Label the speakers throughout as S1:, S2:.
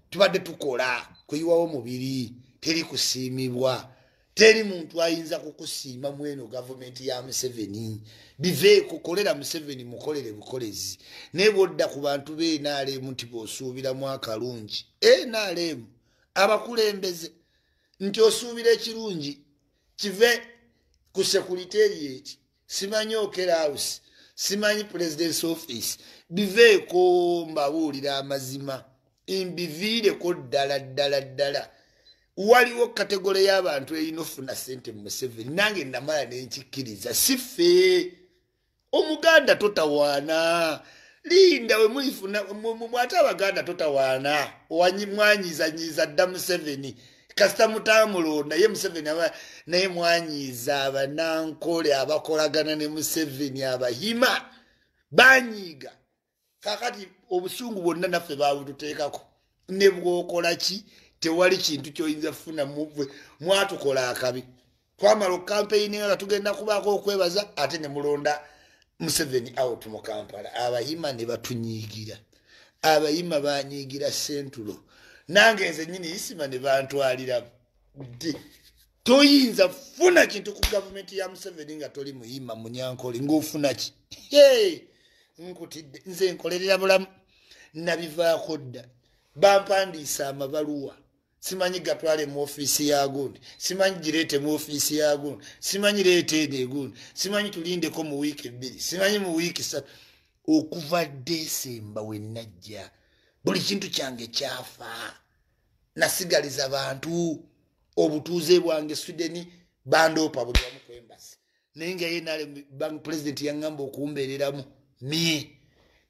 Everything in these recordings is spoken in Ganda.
S1: tubadde tukola kuyiwawo mubiri teri kusiimibwa teri muntu ayinza kukusiima mu eno gavumenti ya museveni biveeko kolera museveni mukolere bukolezi naye bwodda ku bantu be nrm nti bwosuubiramu akalungi nrm abakulembeze nti osuubira ekirungi kive ku sekuliteeri eki simanyi okera house simanyi presidence office biveeko mbabuulira amazima mbiviireko ddala ddala ddala waliwo kategole y'abantu erina ofuna sente mu museveni nange namala nenkikkiriza sife omuganda totawaana linda wemulifuna mwate abaganda totawaana mwanyiizanyiiza dda museveni kasita mutamulonda ye museveni aba naye mwanyiiza abanankole abakolagana ne museveni abahima banyiiga kakati obusungu bwonna naffe babututeekako ne bwokola ki tewali kintu kyoyinza kufunamu mwatukola akabi twamala okukampeyininga nga tugenda kubaako okwebaza ate ne mulonda museveni out mu kampala abayima ne batunyiigira abayima banyiigira sentulo nange nze nyini isima ne bantwalira ddi toyinza funa kintu ku gavumenti ya museveni nga toli muyima munyankole ngaofunaki nkutidde nze nkolerera bulamu nabivaako dda bampandiisa amabaluwa simanyi gatwale mu ofiisi ya gundi simanyi gireete mu ofiisi ya gundi simanyi leeta eno egundi simanyi tulindeko mu wiiki ebbiri simanyi mu wiiki satu okuva desemba wennajja buli kintu kyange kyafa nasigaliza bantu obutuuze bwange swideni bandoopa buli wamu kwembazi naye nga ye nale bank president yaŋŋamba okumbeereramu mie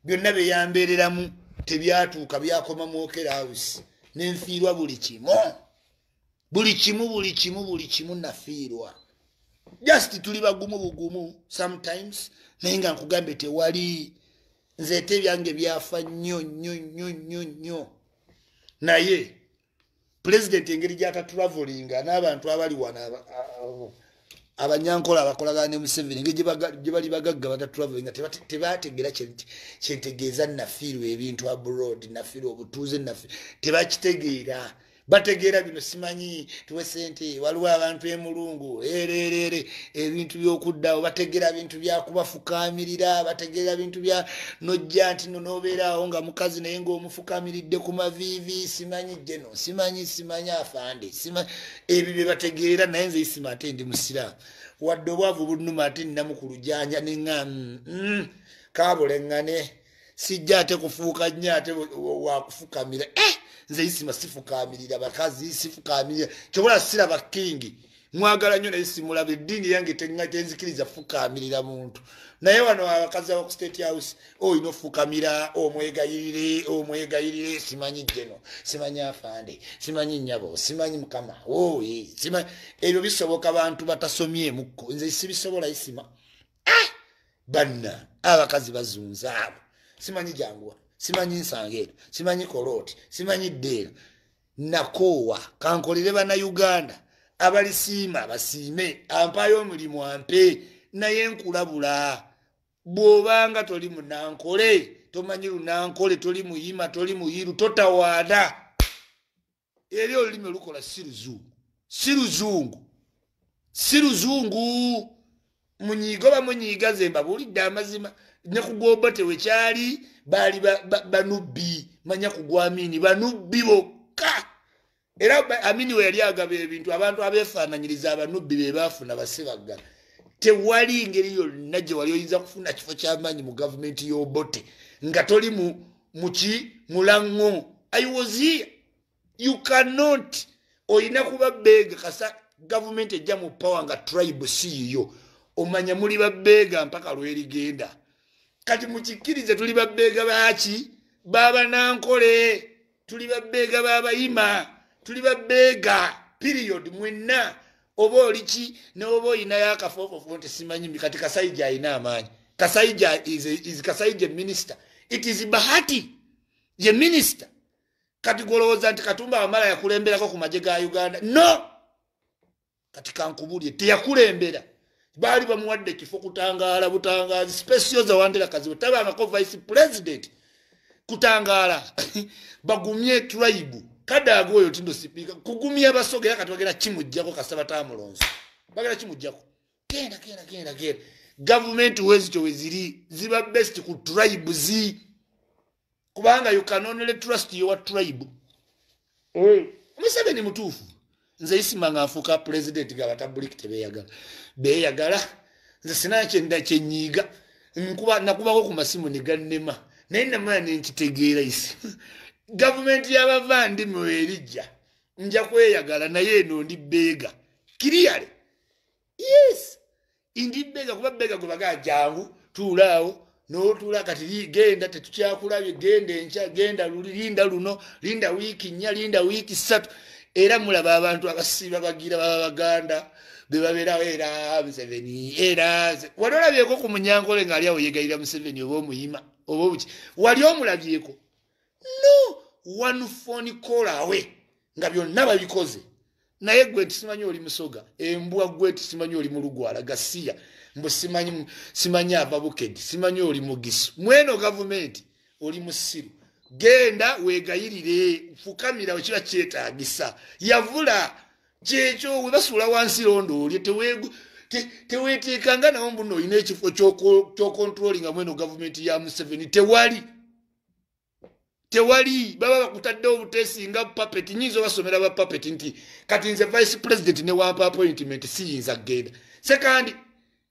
S1: byonna bye yambeereramu tebyatuuka byakoma mu okera house nenfiirwa buli kimu buli kimu buli kimu buli kimu nafiirwa just tuli bagumu bugumu sometimes naye nga nkugambe tewali nzeete ebyange byafa nnyo nnyo nnyo nnyo nnyo naye pulezidenti engeri gyakaturavelinga n'abantu abali wano abanyankola abakolagana ne museveni engeri gye bali bagagga bataturavelinga tebategeera kyentegeeza nafiirwa ebintu abroad nafiirwa obutuuze nafi tebakitegeera bategeera bino simanyi tuwe sente waliwo abantu emulungu ereereere ebintu byokuddawo bategera bintu byakubafukaamirira bategera bintu bya nojja nti no nobeeraawo nga mukazi naye ngaomufukamiridde ku maviivi simanyi jeno simanyi simanyi afande ebyo byebategeera naye nze isima ate ndi musiraamu wadde obwavu bunuma ate nina mukulujanja neŋa mm, mm, kabulengane sijja ate kufuuka nnyo ate wakufukamira eh! nze isima sifukamirira bakazi sifukamirira kyobola siraba kingi mwagala nnyo naye simulaba eddiini yange tenzikiriza fukamirira muntu naye wano abakazi abaku state house olina oh, ofukamira omwegayirire oh, omwegayirire oh, simanyi jeno simanyi afande simanyi nyabo simanyi mukama oye simanyi ebyo bisoboka bantu batasomyemukko nze sibisobola isima ah! banna abakazi bazunza abo simanyi janguwa simanyi nsangeero simanyi kolooti simanyi ddeera nakoowa kankolere banauganda abalisiima basiime ampaayo omulimu ampe naye nkulabula bw'obanga toli munankole tomanyi lunankole toli muyima toli muyiru totawaana eri olulimi olukola si luzungu si luzungu si luzungu munyiigo bamunyiiga ze mbabuulidde amazima ne kugomba tewekyali baali banubbi manya kugwamiini banubbi bokka era amini we yali agaba ebintu abantu abeefaananyiriza abanubbi be baafuna basibagga tewali ngeri yonna gye wali oyinza kufuna kifo ky'amaanyi mu gavumenti y'obote nga toli mu muki mulango i was here you cannot oyina kuba beega kasa gavumenti ejja mu power nga tribe siiyo omanya muli babeega mpaka lwerigenda kati mukikkirize tuli babeega baki babanankole tuli babeega babayima tuli babeega period mwenna oba oliki newoba olinayo akafoofofo nti simanyi kati kasaija alina amaanyi kasaija is kasaija minisita it is bahati ye minisita kati gwolowooza nti katumba wamala yakulemberako ku magye ga uganda no kati kankubulye teyakulembera baali bamuwadde ekifo kutangaala butangaazi spesio zawandera kazibu tabangako vice president kutangaala bagumye tribe kadaaga oyo tindo sipiika kugumya basoga era katibagenda kimujjako kasita batamulonzi bagenda kimujjako genda genda genda genda gavumenti wezityo weziri ziba best ku tribe zii kubanga you can only trust your tribe eh. museveni mutuufu nze isima nga nfuuka pulezidenti nga batabuliki tebeyagala beyagala nze sina kyenda kyenyiiga nkuba nakubako ku masimu negannema naye namala nenkitegeera isi gavumenti yabavandi mwerijja nja kweyagala naye eno ndi beega kiriyale yes indi bega kuba bega gwebagaa jangu tuulaawo notuula kati genda tetukyakulabye genda enkya genda luli linda luno linda wiiki nnya linda wiiki ssatu era mulaba abantu abasiiba bagira baba baganda bebabeerawo era museveni era wali olabyeko ku munyankole ng'ali awo yegalira museveni oba omuyima oba obuki wali omulabyeko no one phone call awe nga byonna babikoze naye gwe tisimanyi oli musoga embwa gwe tisimanyi oli mulugwala gasiya mbu simanyi simanyi ava bukedi simanyi oli mugisu mweno gavumenti oli musiru genda wegayirire fukamira wekiba kyetagisa yavula kyekyo webasuula wansi londo olye tewegu teweteekanga nawo mbuno olina ekifo kyokontrolinga mweno gavumenti ya museveni tewali tewali baba bakutaddewo butesi nga papet nyinza obasomera ba papet nti kati nze vice president newampa appointment siyinza kugenda sekandi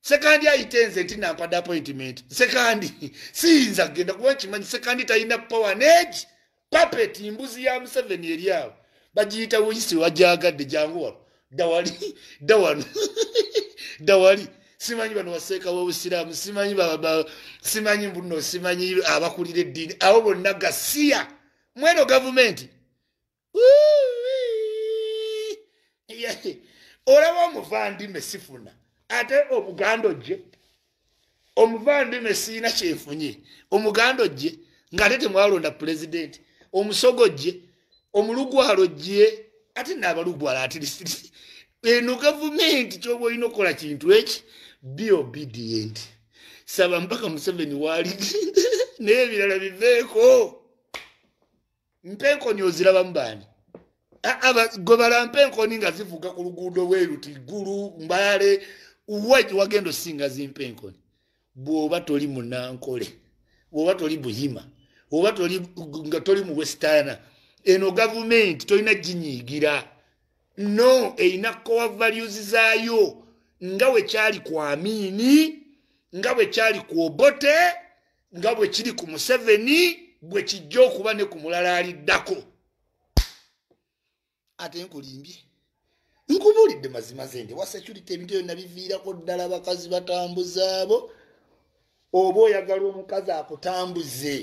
S1: sekandi ayite nze nti nampada appointment sekandi siyinza kugenda kuba nkimanyi sekandi talina power negi papet mbuzi ya museveni eri awo bagiyita wuyisi wagyagadde jangu wano dawali dawano dawali simanyi bano waseeka wobusiraamu simanyi simanyi mbuno simanyi abakulira eddiini abo bonna gasiya mweno gavumenti olaba omuvandime sifuna ate obuganda ojje omuvandime siina kyenfunye omuganda ojje ngaate temwalonda pulezidenti omusogo ojje omulugwalo ojje ate naabalugwalo ati eno gavumenti kyoba olina okukola kintu eki be obedient saba mpaka museveni waalidde naye ebirala biveeko mpenkoni ozirabamu baani gwe balampa enkoni nga zivuga ku luguudo weruti gulu mbale waki wagenda osinga zimpa enkoni bwoba toli munankole bwoba toli buyima oba nga toli mu westana eno gavumenti tolina ginyiigira no erina kowa values zaayo nga wekyali ku amiini nga wekyali ku obote nga bwe kiri ku museveni bwe kijja okuba ne ku mulala aliddako ate nkulimbye nkubuulidde mazima zende wa security ebintu ebyo nabiviirako ddala bakazi batambuza abo oba oyagala omukazi akutambuze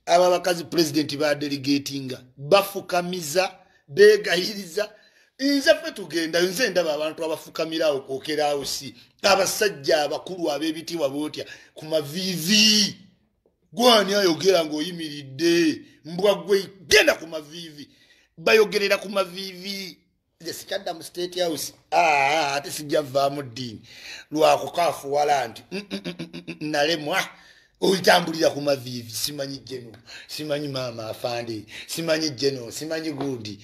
S1: abo abakazi pulezidenti badelegatinga bafukamiza begayiriza nze fe tugendayo nze ndaba abantu abafukamirawo kwokerawo si abasajja abakulu ab'ebitiibwa bootya ku maviivi gwani ayogera ng'oyimiridde mbwa gwe genda ku maviivi bayogerera ku maviivi nze sikyadda mu state house ah, ate sijja vaamu ddiini lwakukaafuwala nti mm, mm, mm, nalemwa oyitambulira ku maviivi simanyi jeno simanyi maama afande simanyi jeno simanyi gundi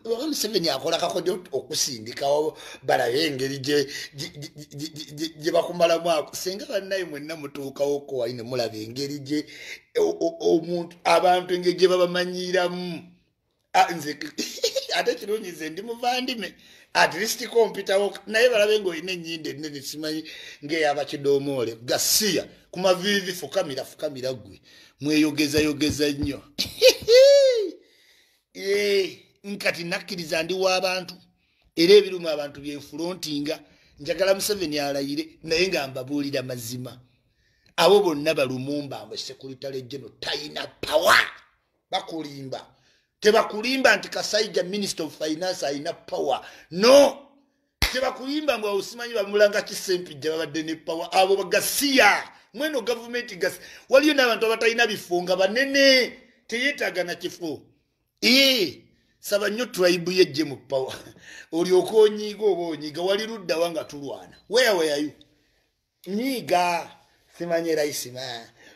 S1: oba museveni akola kakodyo okusindikawo balabe engeri gye bakumalamu ako singa bannaye mwenna mutuukawo kowali ne mulaba engeri gye omuntu abantu engeri gye babamanyiiramu nze ate kirungi nze ndi muvandime at least kompitawo naye balabe nga olina enyindo ennene simanyi ngaeyabakidomoole gasiya ku maviivi fukamira fukamira gwe mweyogezayogeza nnyo eh, nkati nakkiriza ndi w'abantu era ebiruma abantu byenfulontinga njagala museveni alayire naye nga mbabuulira mazima abo bonna balumumba mwe sekuritale geno talina pawa bakulimba tebakulimba nti kasaija minister of finance alina pawa no kyebakuyimba mbu awusimanyi bamulanga kisempijja babadde ne pawa abo bagasiya mweno gavumenti gasi waliyo n'abantu abatalina bifo nga banene teyetaaga na kifo ee saba nnyo tribu yejje mu pawa olyoka onyiiga oba onyiiga wali luddawa nga tulwana weyaweyayo nyiiga simanyi era isima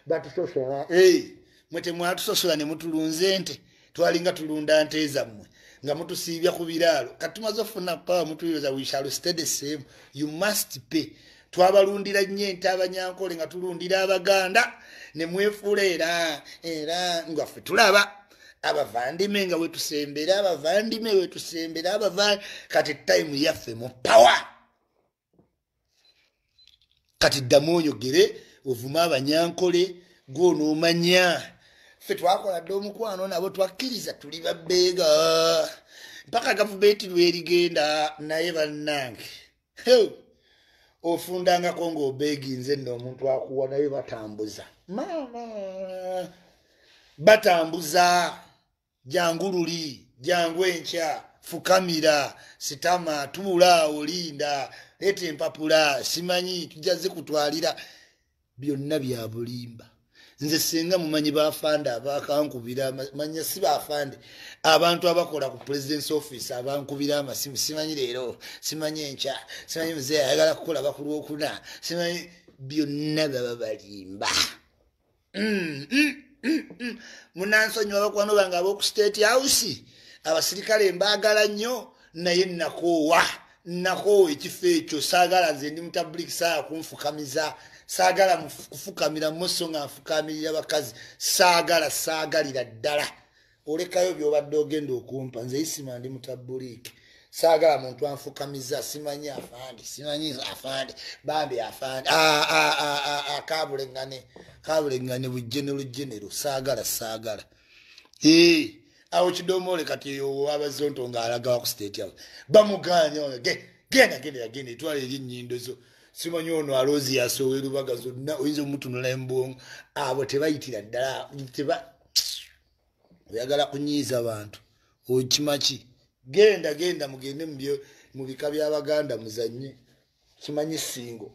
S1: batusosola eh, mwe temwatusosola ne mutulunze nte twalinga tulunda nte zammwe nga mutusiibya ku biraalo kati tumaze okufuna pawa mutuyoza wishalo stede same you must pay twabalundira nnyo ente abanyankole nga tulundira abaganda ne mwefuula era era ngaffe tulaba abavandime nga wetusembera abavandime wetusembera abava kati time yaffe mu pawa kati ddamu oyogere ovuma abanyankole gwonoomanya ffe twakola dde omukwano nabo twakkiriza tuli babbeega mpaka gavumenti lwerigenda naye bannange ofundangako ng'obeeginze nno omuntu akuwa naye batambuza maama batambuza jangu luli jangu enkya fukamira sitama tubulaawo linda leeta empapula simanyi tujja zikutwalira byonna byabulimba nze singa mumanyi bafande abakankubira manya si bafande abantu abakola ku presidence office abankubira amasimu simanyi leero simanyi enkya simanyi muzeeyi ayagala kukola bakulwokuna simanyi byonna baba balimba mm, mm, mm, mm. munansonyiwa bakwano bange aboku state house abasirikale mbaagala nnyo naye nakoowa nakoowa ekifo ekyo saagala nze ndi mutabuliki saa kunfukamiza saagala kufukamira muso nga nfukamirira bakazi saagala saagalira ddala olekayo byobadde ogenda okumpa nze isima ndi mutabuliiki saagala muntu anfukamiza simanyi afande simanyi afande bambi afande kabuleŋane kabuleŋane bujenero jenero saagala saagala awo kidomoole kati owabazonto nga alagawa ku state house bamuganya oyo ge genda genda yagenda etwala eri enyindo zo simanyi ono aloozi yasowa erubaga zonna oyinza omutunula embwongo abo tebayitira ddala oyagala kunyiiza bantu okimaki genda genda mugende mu bika by'abaganda muzanye kimanyi singo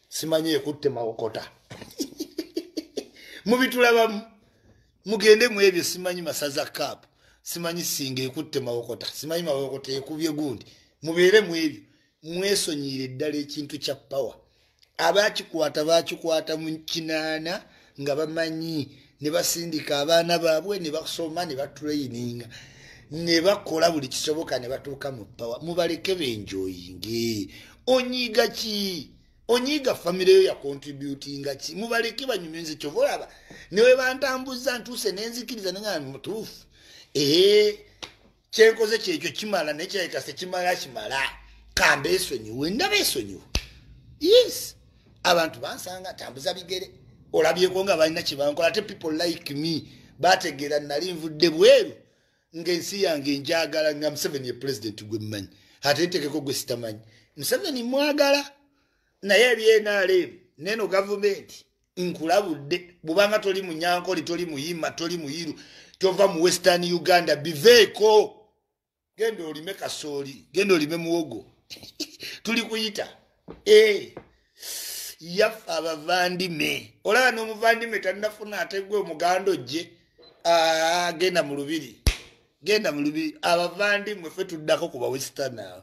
S1: simanyi ekutte mawokota mubitulabamu mugende mu ebyo simanyi masaza kaapu simanyi singa ekutte mawokota simanyi mawokota ekubye gundi mubeere mu ebyo mwesonyiire ddala ekintu kya power abakikwata bakikwata mu kinaana nga bamanyi ne basindika abaana baabwe ne basoma ne batrayininga ne bakola buli kisoboka ne batuuka mu power mubaleke benjoyinge onyiiga ki onyiiga famire yo yakontributinga ki mubaleke banyumye nze kyova olaba newe bantambuza ntuuse nenzikiriza nenga mutuufu ee kyenkoze kyekyo kimala naye kirabika sekimala kimala kamba esonyiwe ndaba esonyiwe yes abantu bansanga tambuza bigere olabyeko nga balina kyebankola ate people like me bategeera nali nvudde bweru ngaensi yange enjagala nga museveni ye president gwe mmanyi ate ntekeko gwe sitamanyi museveni mwagala naye ebyenaleemu neno gavumenti nkulabudde bubanga toli munyankole toli muyima toli muyiru tova mu western uganda biveeko genda olime kasooli genda olime muwogo tuli kuyita eh. yaffe abavandime olaba n'omuvandime tanafuna ategwe omuganda ojje ah, genda mu lubiri genda mu lubiri abavandimwe fe tuddako ku bawesitana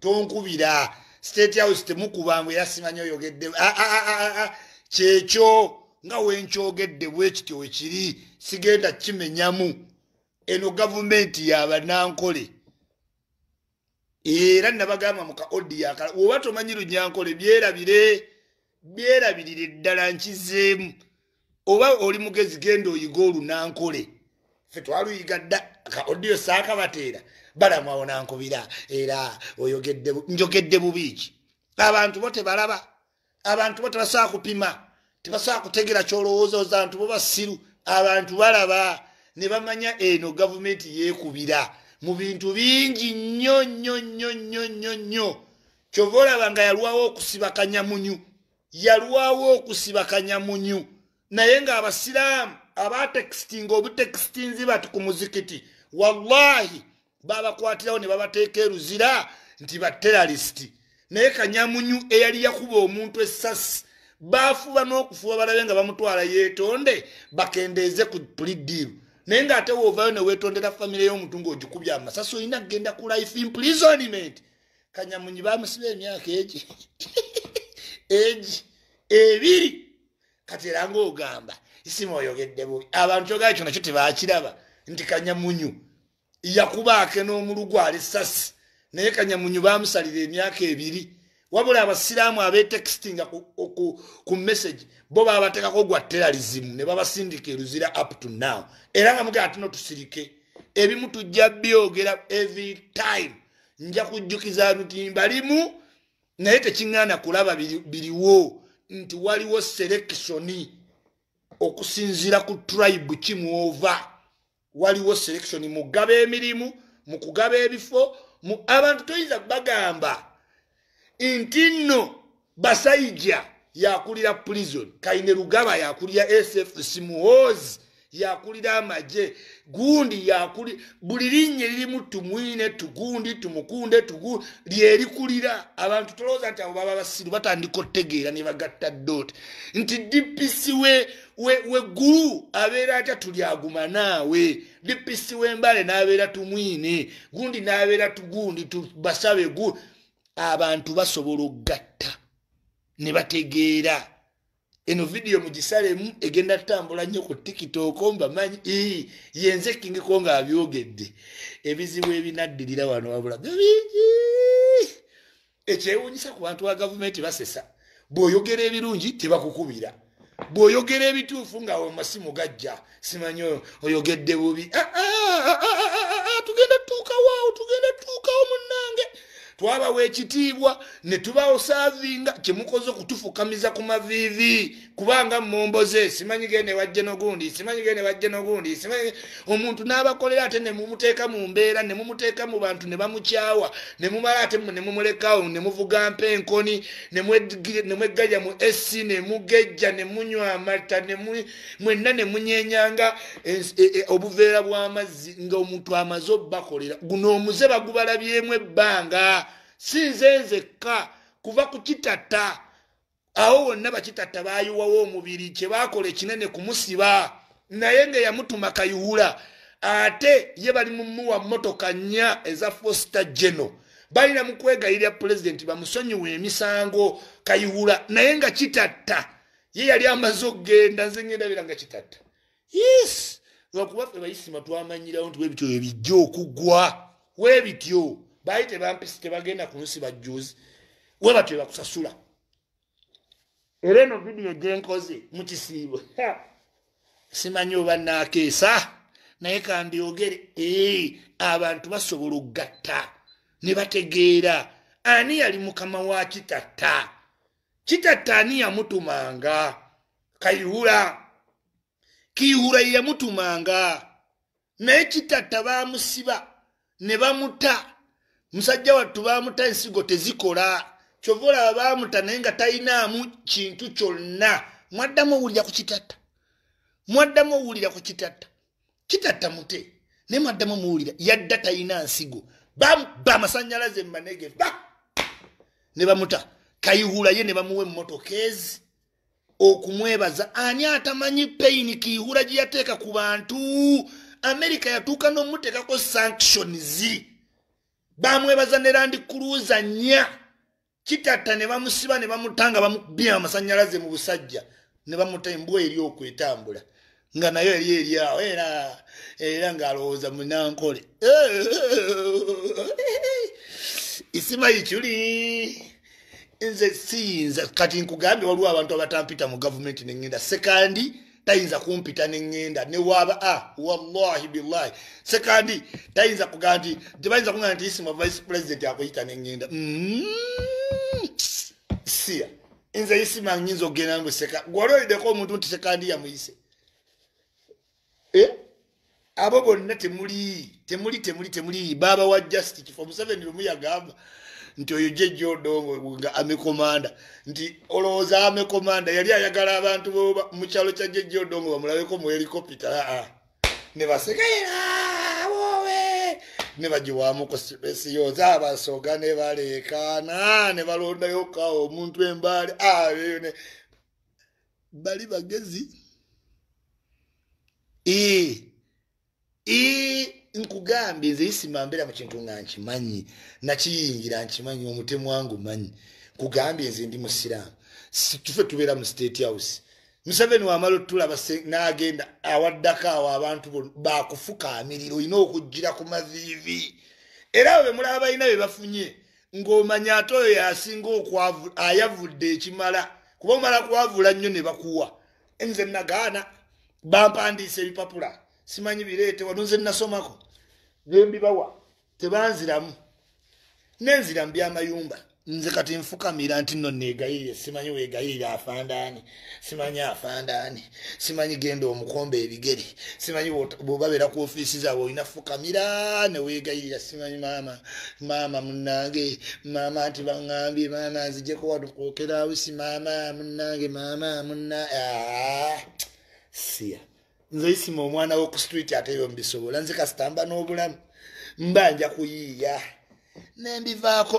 S1: tonkubira state house temukubangu yasimanyi oyogedde ah, ah, ah, kyekyo nga wenkyogedde bwekityo wekiri sigenda kimenyamu eno gavumenti yabanankole era nabagamba muka odiakala woba tomanyi lunyankole byerabire byerabirire ddala nkizeemu oba oli mugezi genda oyiga olunankole fe twaluyiga dda ka odiyo saakabateera balamwawo nankubira era oyogedde njogedde bubiiki abantu bo tebalaba abantu bo tebasobola kupima tebasobola kutegera kyolowooza ozantu bo basiru abantu balaba ne bamanya eno gavumenti yeekubira mu bintu bingi nnyo nnyo nnyo nnyo nnyo nnyo kyova olaba nga yalwawo okusiba kanyamunyu yalwawo okusiba kanyamunyu naye nga abasiraamu abatekitinga obutekitinzi bati ku muzikiti wallahi babakwatirawo ne babateeka eruzira nti bateralisiti naye kanyamunyu eyali yakuba omuntu essasi baafuba n'okufuba balabe nga bamutwala yeetonde bakendeeze ku pulidiiru naye ng'ate woovayo ne weetondera famire y'omuntu ng'ogikubya amasasi olina kugenda ku life imprisonment kanyamunyi bamusiba emyaka egi egi ebiri kati era ngaogamba isimu oyogedde bubi abantu ogaa kyo nakyo tebakiraba nti kanyamunyu yakubaake n'omulugu ali sasi naye kanyamunyu bamusalira emyaka ebiri wabula abasiraamu abetekisinga ku message bo babatekako gwa teralizimu ne babasindika eruzira up to now era nga mugaa tuno tusirike ebimu tujja byogera every time nja kujjukiza lutimba limu naye tekiŋŋaana kulaba biriwo nti waliwo selekisoni okusinziira ku tribe kimwova waliwo selekisoni mugaba emirimu mu kugaba ebifo abantu toyinza bagamba nti nno basaija yakulira prison kaine lugaba yakulira sfc muhoozi yakulira amagye gundi yakuli buli linnye lirimu tumwine tugundi tumukunde tugu lyerikulira abantu tolowooza nti abo baba basiru batandika otegeera ne bagatta dot nti dpc we we, we gulu abeera atya tulyagumanaawe dpc wembale nabeera tumwine gundi nabeera tugundi tubasabe gu abantu basobola okugatta ne bategeera eno vidiyo mugisalemu egenda tutambula nnyo ku tiktok mbamanyi yenze kingiko nga abyogedde ebizibu ebinaddirira wano wabula bingi ekyewunyisa ku bantu ba gavumenti basesa bw'oyogera ebirungi tebakukubira bw'oyogera ebituufu nga awo masimu gajja simanyi oyogedde bubi ah, ah, ah, tugenda tutuukawaawo tugenda tutuukawo munnange twabawa ekitiibwa ne tubawo saavinga kyemukoze okutufukamiza ku maviivi kubanga mumboze simanyi gende wajje nogundi simanyi gende wajje nogundi simanyi omuntu n'abakolera ate ne mumuteeka mu mbeera ne mumuteeka mu bantu ne bamukyawa ne mumala ate ne mumulekawo ne muvuga mpa enkoni ne mweggalya mu ec ne mugejja ne munywa amata mwenna ne munyenyanga e, e, e, obuveera bw'amazzi ng'omuntu amaze obubakolera guno omuze bagubalabyemu ebbanga si nze nzekka kuva ku kitata awo wonna bakitatta bayiwawo omubiri kyebakola ekinene kumusiba naye nga yamutuma kayihula ate ye bali mumuwa motoka nnya eza fosta geno balina mu kwegayirira pulezidenti bamusonyiwa emisango kayihula naye nga kitatta ye yali amaze okugenda nze ngendabira nga kitatta yes lwakuba ffe bayisima twamanyirawo nti webityo webijja okugwa webityo baali tebampisi tebagenda ku nsi bajjuzi webatyo ebakusasula era eno vidiyo gyenkoze mu kisiibo simanyi oba naakeesa naye kambyogere ee abantu basobola okugatta ne bategeera ani yali mukama wa kitatta kitatta ani yamutumanga kayihura kiyihura yeyamutumanga naye kitatta bamusiba ne bamuta musajja wattu bamuta ensigo tezikola kyova olaba bamuta naye nga talinaamu kintu kyonna mwaddamu owulira ku kitatta mwaddamu owulira ku kitatta kitatta mute naye mwaddamu muwulira yadda talina nsigo ba masanyalaze mubanege ba ne bamuta kayihula ye ne bamuwa emmotoka ezi okumwebaza ani atamanyi peyini kiyihula gye yateeka ku bantu amerika yatuuka n'omuteekako sanctions bamwebaza ne landi kuluuza nnya kitatta ne bamusiba ne bamuta nga bamukubye amasanyalaze mu busajja ne bamuta embwa eri okwo etambula nga nayo eri eri awo era era ng'alowooza munankole isima ikyuli nze siyinza kati nkugambye waliwo abantu abatampita mu gavumenti ne ŋŋenda sekandi tayinza kumpita neŋŋenda ne waaba a ah, wallahi billahi sekandi tayinza kuga nti tebayinza kuga nti isima vice president akuyita neŋŋenda mm-hmm. siya nze isima nyinza okugenda nbwe seka gwali olideko omuntu nti sekandi yamuyise eh? abo bonna temuli temuli temuli temuli baba wa just kifo museveni lumu yagamba nti oyo jejja odongo nga amekomanda nti olowooza amekomanda yali ayagala abantu mu kyalo kya jejja odongo bamulabeko mu helikopita aa ne basekeera wowe ne bagiwamuku esiyoza abasoga ne baleekaana ne balondayo kawo omuntu embaali ayo ne bali bagezi nkugambye nze isima mbeera mu kintu nga nkimanyi nakiyingira nkimanyi omutemu wangu manyi nkugambye nze ndi musiraamu tufe tubeera mu state house museveni wamala otulaba nagenda awaddako awo abantu bakufuka amiriro olina okugjira ku maviivi era abo bemulaba balina bebafunye ng'omanya ate oyo yasinga okwavu ayavudde ekimala kuba omala kwavula nnyo ne bakuwa nze nagaana bampandiisa ebipapula simanyi bireete wano nze nasomako nembibawa tebanziramu nenzira mu byamayumba nze kati nfukamira nti no negayirire simanyi wegayirire afandaani simanyi afandaani simanyi genda omukomba ebigere simanyi bwebabeera ku ofiisi zaabwe olina fukamira neweegayirira simanyi maama maama munange maama nti baŋambye maama nzijeko wadukokerausi maama munange maama muna ah, siya nze isima omwana woku street ate ebyo mubisobola nze kasitamba n'obulamu mba nja kuyiiya nembivaako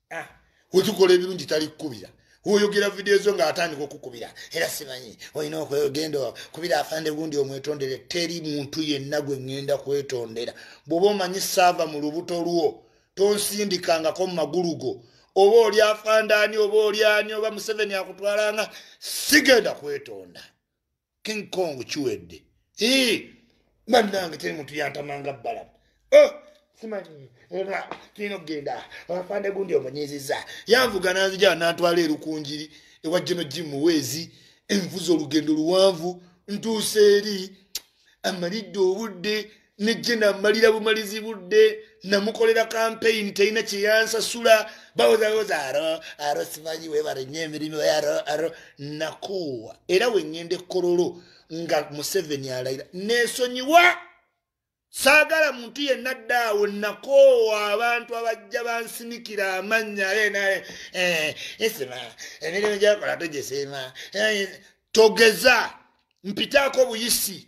S1: ah, wetukola ebirungi tali kukubira woyogera vidiyo zo ngaatandika okukubira era simanyi olina okwegenda kubira afande gundi omwetondere teri muntu yenna gwe ŋŋenda kwetondera bw'oba omanyi saava mu lubuto lwo tonsindikangako mu magulu go oba oli afandaani oba oli ani oba museveni akutwalanga sigenda kwetonda king kong kiwedde bannange teri muntu yantamanga bbala oh, simanyi era tulina okugenda afande gundi omunyiziza yanvuga nanzija nantwala erukunjiri ewa jeno ji muweezi envuza olugendo luwanvu ntuusa eri amalidde obudde nejje namalira bumalizi budde namukolera kampeyini terina kyeyansasula bawozawoza aro aro simanyi webale nyo emirimu aro aro nakoowa era wengenda ekololo nga museveni alayira nesonyiwa saagala muntu yenna ddaawo nakoowa abantu abajja bansinikira amannya aenae eh, esima emirimu gyakola togesiima eh, togeza mpitaako buyisi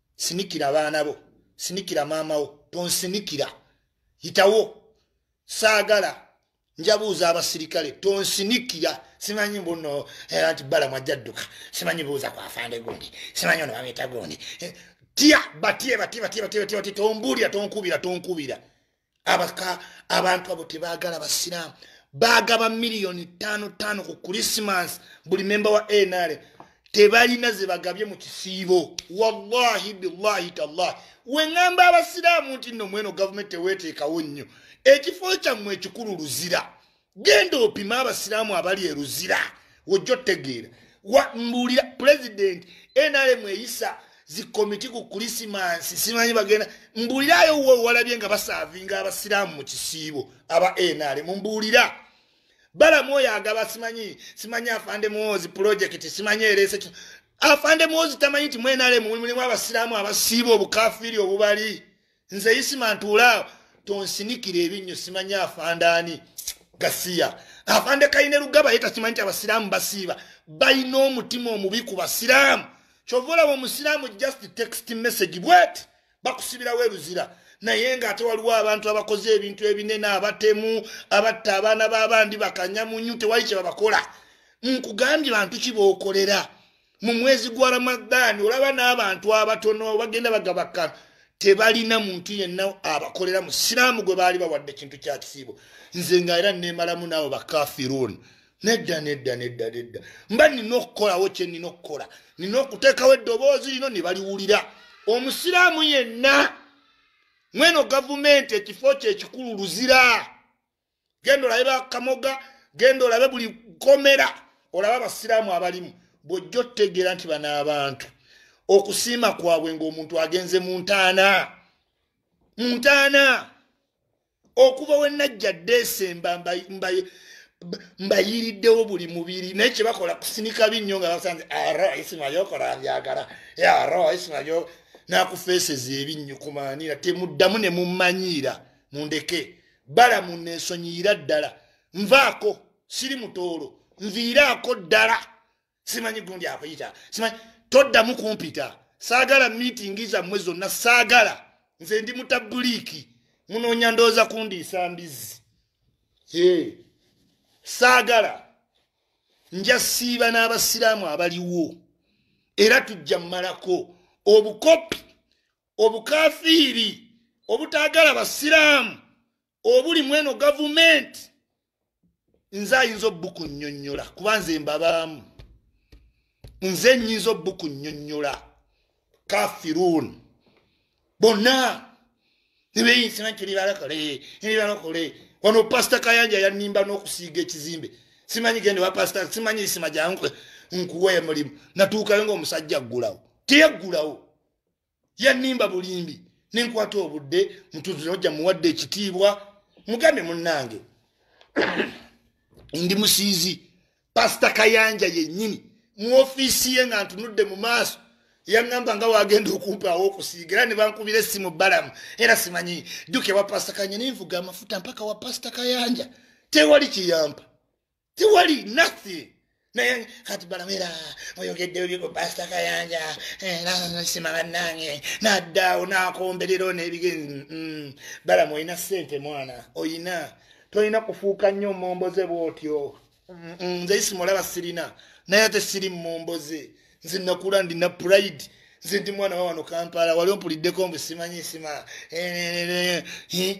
S1: sinikira abaana bo sinikira maama wo tonsinikira yitawo saagala njabuuza abasirikale tonsinikira simanyi mbuno eh, nti balamu ajja dduka simanyi buuza ku afande gundi simanyi ono bamweta gundi eh, tya batye batye batye batye batye batye tombuulira tonkubira tonkubira abaka abantu abo tebagala basiraamu bagaba miliyoni tano tano ku krisimas buli memba wa nr tebalina zebagabye mu kisiibo wallahi billahi tallahi weŋamba abasiraamu nti no mweno gavumenti teweteekawo nnyo ekifo kyammwe ekikulu luzira genda opima abasiraamu abali eruzira wojja otegeera mbuulira pulezidenti nrm eyisa zikomiti ku kulisimansi simanyi bagenda mbuulirayo wo walabye nga basaavinga abasiraamu mu kisiibo aba nrm mbuulira balamu oyo agaba simanyi simanyi afande muwoozi pulojekiti simanyi ereese afande muwoozi tamanyi nti mu nrm mulimu abasiraamu abasiiba obukafiiri obubali nze isima ntuulaawo tonsinikira ebinnyo simanyi afandaani gasiya afande kaine lugaba ye takimanyi nti abasiraamu basiiba balina omutima omubi ku basiraamu kyova olaba omusiraamu just text message bwet bakusibirawo eruzira naye ngaate waliwo abantu abakoze ebintu ebinene abatemu abatta abaana babandi bakanyamunyu tewali kyebabakola nkugambye bantu kibaokolera mu mwezi gwa ramadaani olaba n'abantu abatono bagenda bagabaka tebalina muntu yenna abakolera mu siraamu gwe baali bawadde ekintu kya kisiibo nze nga era neemalamu naawe bakafiruuni nedda nedda nedda nedda mba nina okukolawo kye nina okukola nina okuteekawo eddoboozi lino ne baliwulira omusiraamu yenna mweno gavumenti ekifo kye ekikulu luzira genda olabe bakamoga genda olabe buli komera olaba abasiraamu abalimu bwojja otegeera nti bano abantu okusiima kwabwe ngaomuntu agenze mu ntaana mu ntaana okuva wenajja desemba mbayiriddewo buli mubiri naye kyebakola kusinika binnyo nga basanze aro ah, isima yokola byagala aro ah, isima yo nakufeeseza ebinnyo kumanira temuddamu ne mumanyiira mundeke balamu nesonyiyira ddala nvaako siri mutoolo nviiraako ddala simanyi gundi akuyita simanyi toddamu kumpita saagala miitingi zammwe zonna saagala nze ndi mutabuliiki munoonya ndowooza kundiisa mbizzi ee saagala nja siiba n'abasiraamu abaliwo era tujja mmalako obukopi obukafiiri obutaagala basiraamu obuli mweno gavumenti nze ayinza obukunyonyola kuba nze mbabaamu nze nyinza obukunyonyola kafirun bonna nebeyinsina nti libalakole libalakole wano pasita kayanja yanimba n'okusiiga ekizimbe simanyi gende wa pasita simanyi isima gyange nkuwa emulimu natuukayo ngaomusajja aggulawo teyaggulawo yannimba bulimbi nenkwata obudde mutuzinojja muwadde ekitiibwa mugambe munnange ndi musiizi pasita kayanja yennyini mu ofiisi ye nga ntunudde mu maaso yaŋŋamba nga wagenda okumpaawo okusiiga era ne bankubira essimu balamu era simanyi jjuka ewa pasita kayanja nenvuga amafuta mpaka wa pasita kayanja tewali kiyampa tewali nothing naye kati balawera oyogedde bibiko pasita kayanja eh, nasima bannange naddaawo nakomberero nebigenzi mm, mm. balamu olina sente mwana oyina tolina kufuuka nnyo omomboze bwotyo mm, nze isimulaba sirina naye ate siri mumomboze nze nakula ndina pride nze ndi mwana wawano kampala wali ompuliddeko mbu simanyi sima eh, eh,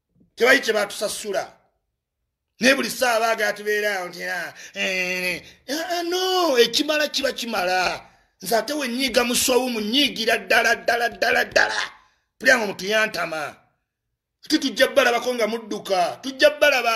S1: tebayi kye batusasula naye buli ssaawa baagala tubeeraawo nti ah, eh, eh, eh, no ekimala kiba kimala nze ate wenyiiga musowu munyiigira ddala ddala ddala ddala pulya nga omutuyantama ate tujja balabako nga mudduka tujja balaba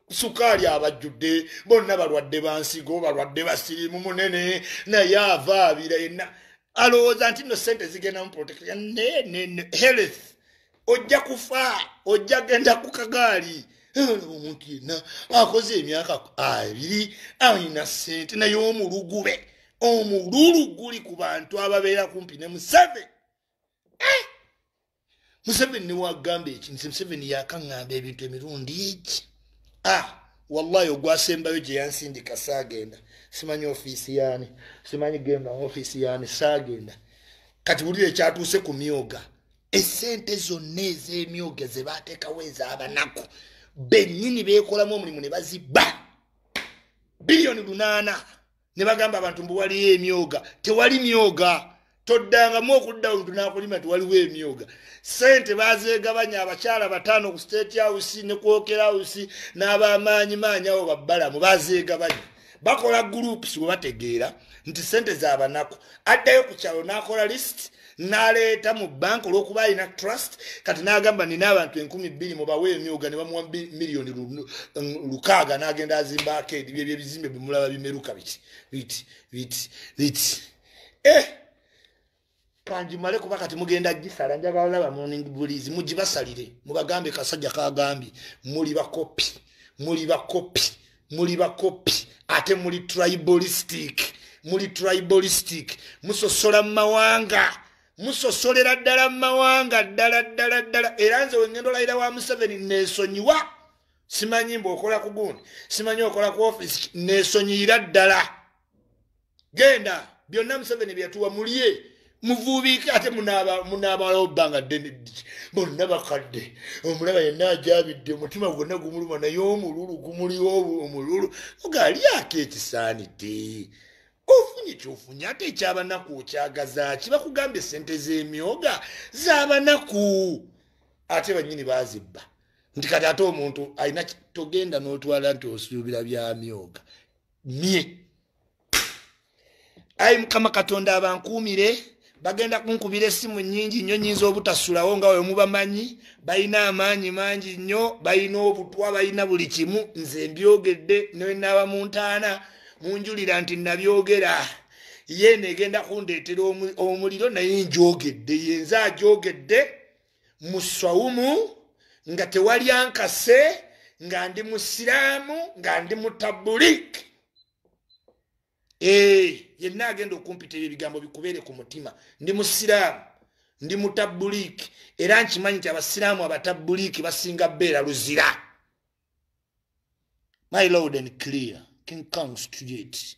S1: sukaali abajjudde bonna balwadde bansigo balwadde basirimu munene naye ava abira yenna alowooza nti no sente zigendamu protection nenene health ojja kufa ojja genda ku kagaali omuntu yenna akoze emyaka abiri alina sente naye omulugube omululu guli ku bantu ababeera kumpi ne museve eh! museveni newagamba eki nze museveni yakaŋŋamba ebintu emirundi eki a ah, wallahi ogwasembayo gye yansindika saagenda simanyi ofiisi yaani simanyi genda ofiisi yaani saagenda kati bulira ekyatuuse ku myoga esente zonna ez'emyoga ze baateekawo ez'abanaku bennyini beekolamu omulimu ne bazibba biliyoni lunaana ne bagamba abantu mbu waliyo emyoga tewali myoga toddangamu okudda omuntu n'akulima nti waliwo emyoga sente bazeegabanya abakyala bataano ku state house ne kwokera house n'abamaanyi maanyi awo babbalamu bazeegabanya bakola groups we bategeera nti sente za banaku addayo ku kyalo n'akola list naleeta mu banka olwokuba alina trust kati nagamba nina abantu enkumi bbiri mubawe emyuga ne bamuwa miliyoni lukaaga nagenda azimba akeedi byebyo ebizimbe bimulaba bimeruka biti biti biti biti eh! kanjimale kuba kati mugenda gisala njagala olaba morning bulizi mugibasalire mubagambe kasajja kagambye muli bakopi muli bakopi muli bakopi ate muli tribalistic muli tribalistic musosola mu mawanga musosolera ddala mu mawanga ddala ddala ddala era nze wengenda olayira wa museveni nesonyiwa simanyi mbu okola ku gundi simanyi okola ku ofisi nesonyiyira ddala genda byonna museveni byeyatuwa mulye muvuubiike ate munaabalawo bbanga ddene ddiki bonna bakadde omulaba yenna ajabidde omutima gwonna gumuluma naye omululu gumuliwo omululu ogaalyako ekisaanidde ofunye kyofunye ate ekyabanaku okyagazaaki bakugambye sente z'emyoga z'abanaku ate bannyini bazibba nti kati ate omuntu alina togenda n'otwala nti osuubira byamyoga mye ayi mukama katonda abankuumire bagenda kunkubira essimu nyingi nnyo nyinza obutasulawo nga wemubamanyi balina amaanyi mangi nnyo balina obutwa balina buli kimu nze mbyogedde nenaaba mu ntaana munjulira nti nabyogera yeena egenda kundeetera omuliro naye njogedde yenze ajogedde mu swawumu nga tewali ankase nga ndi musiraamu nga ndi mutabulik eh, yenna agenda okumpita ebyo ebigambo bikubeere ku mutima ndi musiraamu ndi mutabulik era nkimanyi nti abasiraamu abatabulik basinga beera luzira my loud and clear king kong studiate